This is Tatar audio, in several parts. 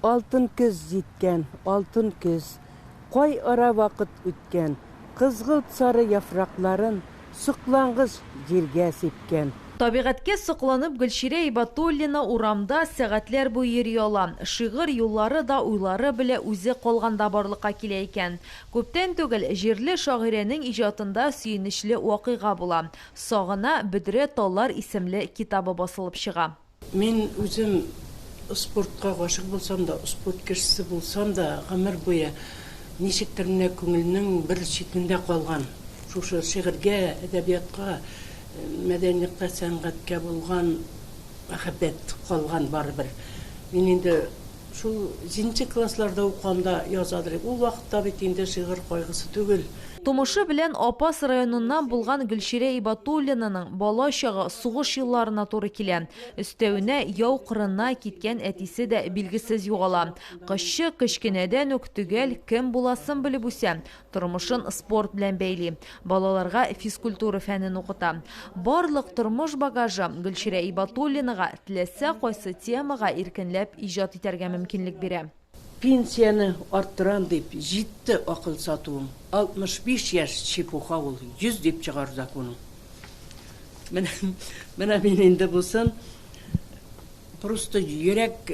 Алтын көз җиткән, алтын көз. Кай ара вакыт үткән. Кызгылт сары яфракларын Соклангыч җиргә сипкән. Табигатькә сокланып Гөлчирә Ибатуллина урамда сәгатьләр буе йөри ала. Шигырь юллары да уйлары белә үзе калганда барлыкка килә икән. Күптән түгел җирле шагыйрәнең иҗатында сөенечле вакыйга була. Сагына, бөдрә таллар исемле китабы басылып чыга. Мин үзем спортка гашыйк булсам да, спорт кешесе булсам да, гомер буе ничектер менә күңелнең бер читендә калган, шушы шигырьгә, әдәбиятка, мәдәниятка, сәнгатькә булган мәхәббәт калган барыбер. Мин инде Шул җиденче классларда укыганда язадыр идем. Ул вакытта бит инде шигырь кайгысы түгел. Тумышы белән Апас районыннан булган Гөлчирә Ибатуллинаның бала чагы сугыш елларына туры килә. Өстәвенә, яу кырына киткән әтисе дә билгесез югала. Кызчык кечкенәдән үк төгәл кем буласын белеп үсә, Тормышын спорт белән бәйли, балаларга физкультура фәнен укыта. Барлык тормыш багажы Гөлчирә Ибатуллинага теләсә кайсы темага иркенләп иҗат итәргә мөмкинлек бирә. Пенсияне арттырам дип, җитте акыл сатуым. 65 яшь, чепуха ул, 100 дип чыгар законың. Менә, менә мин инде бусын, просто йөрәк,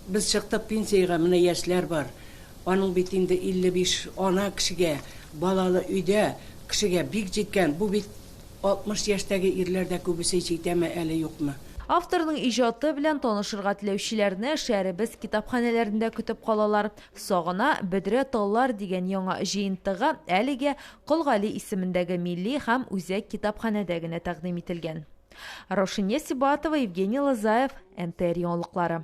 без чыкты пенсиягә, менә яшьләр бар. Аның бит инде 55 ана кешегә, балалы өйдә кешегә бик җиткән, бу бит 60 яшьтәге ирләр дә күбесе җитәме әле юкмы. Авторның иҗаты белән танышырга теләүчеләрне шәһәребез китапханәләрендә көтеп калалар. Сагына, бөдрә таллар дигән яңа җыентыгы әлегә Кол Гали исемендәге милли һәм үзәк китапханәдә генә тәкъдим ителгән. Раушания Сибатова, Евгений Лозаев, НТР яңалыклары.